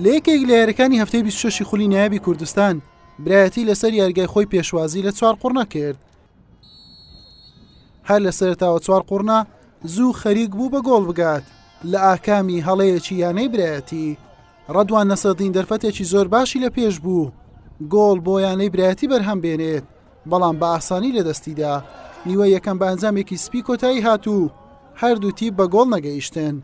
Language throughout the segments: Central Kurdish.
لە یەکێک لە یاریەکانی هەفتەی 26 خولی نایابی کوردستان برایەتی لەسەر یارگای خۆی پێشوازی لە چوار قڕنا کرد هەر لە سەرتاوە چوار قڕنا زوو خەریک بوو بە گۆڵ بگات لە ئاکامی هەڵەیەکی یانەی برایەتی ڕەدوان نەسەدین دەرفەتێکی زۆر باشی لە پێش بوو گۆڵ بۆ یانەی برایەتی بەرهەم بێنێت بەڵام بە ئاسانی لە دەستیدا نیوە یەکەم بە ئەنجامێکی سپی کۆتایی هاتوو هەردوو تیپ بە گۆڵ نەگەیشتن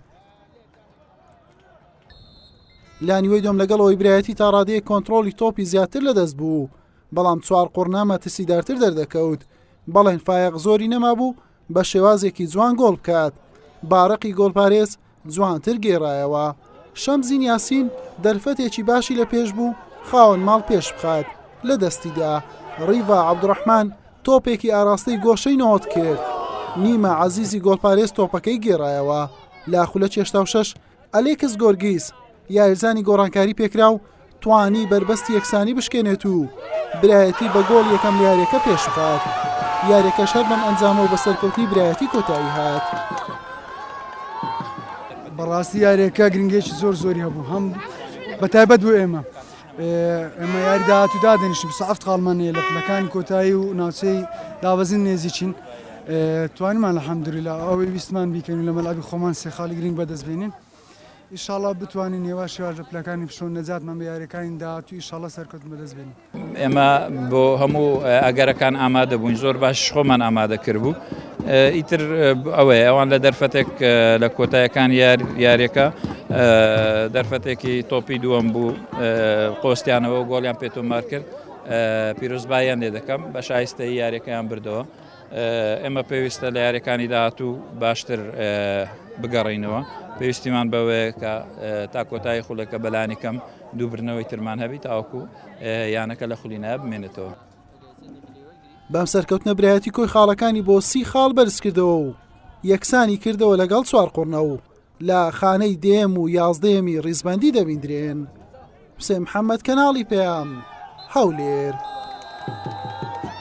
لانیوەی دۆم لەگەڵ ئەوی برایەتی تا ڕادەیە کۆنتترۆلی تۆپی زیاتر لەدەست بوو بەڵام چوار قڕنا مەترسیدارتر دەردەکەوت بەڵێن فایەق زۆری نەما بوو بە شێوازێکی جوان گۆڵ بکات بارەقی گۆڵپارێز جوانتر گێڕایەوە شەمزین یاسین دەرفەتێکی باشی لە پێش بوو خاوەن ماڵ پێش بخات لە دەستیدا ڕیڤا عبدڕحمان تۆپێکی ئاراستەی گۆشەی نۆت کرد نیمە عزیزی گۆڵپارێز تۆپەکەی گێڕایەوە لە خولە چێشتا و شەش ئەلێکس گۆرگیس یارزانی گۆڕانکاری پێکرا و توانی بەربەست یەکسانی بشکێنێت و برایەتی بە گۆڵ یەکەم یارەکە پێشخات یارەکەش هەر بەم ئەنجامە و بە سەرکەوتنی برایەتی کۆتایی هات. بەڕاستی یارێکە گرنگێکی زۆر زۆری هەبوو هەم بە تایبەت بۆ ئێمە ئێمە یاری داهاتوو دادەنیشتین، بیست و حەفت خاڵمان هەیە لە پلەکانی کۆتایی و ناوچەی دابەزین نێزیکین، توانیمان الحمدللە ئەوەی ویستمان بیکەین و لە مەلعەبی خۆمان سێ خاڵی گرنگ بەدەست بێنین، ئیشاڵڵا بتوانین یەواش یەواش لە پلەکانی پشوو نەجاتمان بە یارییەکانی داهاتوو ئیشاڵڵا سەرکەوتن بەدەست بێنین. ئێمە بۆ هەموو ئەگەرەکان ئامادە بووین، زۆر باشیش خۆمان ئامادە کردبوو، ئیتر ئەوەیە ئەوان لە دەرفەتێک لە کۆتایەکان یار یاریەکە دەرفەتێکی تۆپی دووەم بوو قۆستیانەوە گۆڵیان پێتۆمار کرد پیرۆزباییان لێ دەکەم بە شایستەی یاریەکەیان بردەوە ئێمە پێویستە لە یاریەکانی داهاتوو باشتر بگەڕینەوە پێویستیمان بەوەیە کە تا کۆتایی خولەکە بەلانی کەم دووبرنەوەی ترمان هەبی تاوەکو یانەکە لە خولی نابمێنێتەوە. بەم سەرکەوتنە برایەتی کۆی خاڵەکانی بۆ سی خاڵ بەرزکردەوە و یەکسانی کردەوە لەگەڵ چوار قڕنە و لە خانەی دێم و یازدەیەمی ڕیزبندی دەبیندرێن حسێن محەممەد کەناڵی پەیام هەولێر.